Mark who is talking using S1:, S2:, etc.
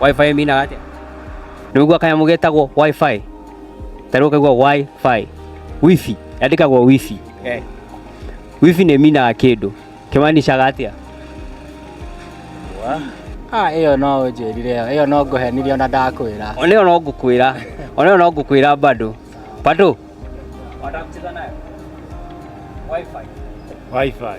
S1: Wi-Fi ĩminaga atĩa? Nĩwaigua kanyamũ getagwo Wi-Fi? Ta rĩu ũkaigua Wi-Fi. Wifi, yandĩkagwo wifi. Eh. Wifi nĩ ĩminaga kĩndũ. Kĩmanicaga atĩa?
S2: Ah, ĩyo no ũnjĩrire ĩyo. Ĩyo no ngũhenirie ona ndakwĩra. Ona ĩyo no ngũkwĩra.
S1: Ona ĩyo no ngũkwĩra bado. Bado? Wataka kucheza nayo? Wi-Fi. Wi-Fi.